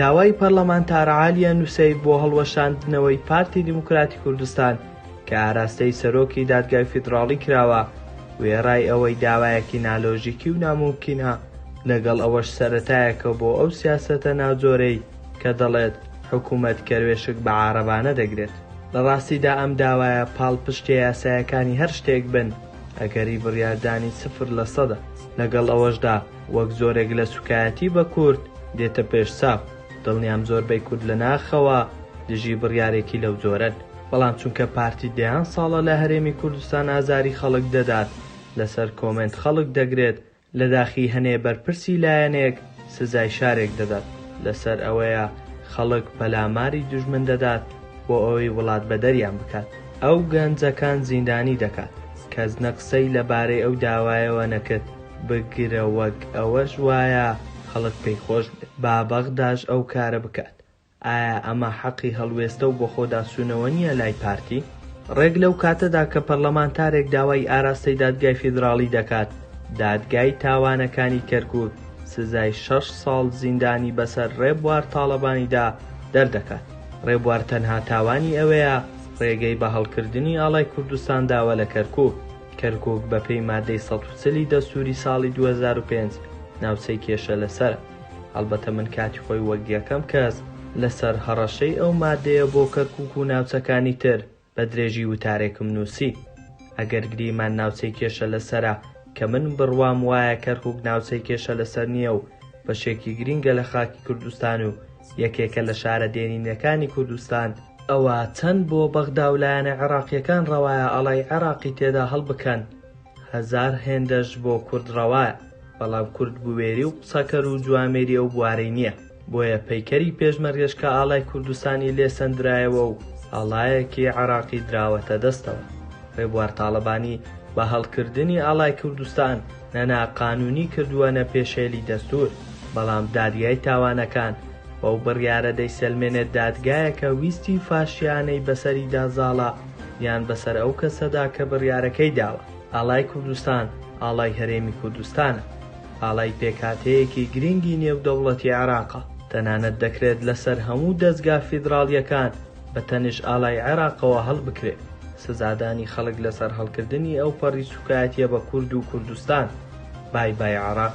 داوای پەرلەمانتار عالیا نوسەیف بۆ هەڵوەشاندنەوەی پارتی دیموکراتی کوردستان کە ئاراستەی سەرۆکی دادگای فیدراڵی کراوە، وێڕای ئەوەی داوایەکی نالۆژیکی و نامومکینە، لەگەڵ ئەوەش سەرەتایەکە بۆ ئەو سیاسەتە ناجۆرەی، کە دەڵێت حکومەت کەروێشک بە عارەبانە دەگرێت. لە ڕاستیدا ئەم داوایە پاڵپشتیە یاسایەکانی هەر شتێک بن، ئەگەری بڕیاردانی سفر لە سەدە. لەگەڵ ئەوەشدا وەک جۆرێک لە سوکایەتی بە کورد دێتە پێش چاو. دڵنیام زۆربەی کورد لە ناخەوە دژی بڕیارێکی لەو جۆرەن. بەڵام چونکە پارتی دەیان ساڵە لە هەرێمی کوردستان ئازاری خەڵک دەدات، لەسەر کۆمێنت خەڵک دەگرێت، لە داخی هەنێ بەرپرسی لایەنێک سزای شارێک دەدات، لەسەر ئەوەیە خەڵک پەلاماری دوژمن دەدات بۆ ئەوەی وڵات بەدەریان بکات. ئەو گەنجەکان زیندانی دەکات. کەس نە قسەی لە بارەی ئەو داوایەوە نەکرد، بگرە وەک ئەوەش وایە خەڵک پێی خۆش بێت با بەغداش ئەو کارە بکات، ئایا ئەمە حەقی هەڵوێستە و بەخۆداچوونەوە نییە لای پارتی؟ ڕێک لەو کاتەدا کە پەرلەمانتارێک داوای ئاراستەی دادگای فیدراڵی دەکات، دادگای تاوانەکانی کەرکووک سزای شەش ساڵ زیندانی بەسەر ڕێبوار تاڵەبانیدا دەردەکات. ڕێبوار تەنها تاوانی ئەوەیە ڕێگەی بە هەڵکردنی ئاڵای کوردستان داوە لە کەرکووک. کەرکووک بەپێی ماددەی سەد و چل ی دەستووری ساڵی دوو هەزار و پێنج ناوچەی کێشە لەسەرە. هەڵبەتە من کاتی خۆی وەک یەکەم کەس لەسەر هەڕەشەی ئەو مادەیە بۆ کەرکوک و ناوچەکانی تر بە درێژی وتارێکم نووسی. ئەگەر گریمان ناوچەی کێشە لەسەرە، کە من بڕوام وایە کەرکوک ناوچەی کێشە لەسەر نییە و بەشێکی گرینگە لە خاکی کوردستان و یەکێکە لە شارە دێرینەکانی کوردستان، ئەوا چەند بۆ بەغدا و لایەنە عێراقییەکان ڕەوایە ئاڵای عێراقی تێدا هەڵبکەن؟ هەزار هێندەش بۆ کورد ڕەوایە، بەڵام کورد بوێری و قسەکەر و جوامێری ئەو بوارەی نییە، بۆیە پەیکەری پێشمەرگەش کە ئاڵای کوردستانی لێ سەندرایەوە و ئاڵایەکی عێراقی دراوەتە دەستەوە، ڕێبوار تاڵەبانی بە هەڵکردنی ئاڵای کوردستان نە ناقانوونی کردووە نە پێشێلی دەستوور، بەڵام دادگای تاوانەکان بەو بڕیارە دەیسەلمێنێت دادگایەکە ویستی فاشیانەی بەسەریدا زاڵە، یان بەسەر ئەو کەسەدا کە بڕیارەکەی داوە. ئاڵای کوردستان ئاڵای هەرێمی کوردستانە. ئاڵای پێکهاتەیەکی گرینگی نێودەوڵەتی عێراقە. تەنانەت دەکرێت لەسەر هەموو دەزگا فیدراڵییەکان بە تەنش ئاڵای عێراقەوە هەڵبکرێت. سزادانی خەڵک لەسەر هەڵکردنی ئەوپەڕی سووکایەتییە بە کورد و کوردستان، بای بای عێراق.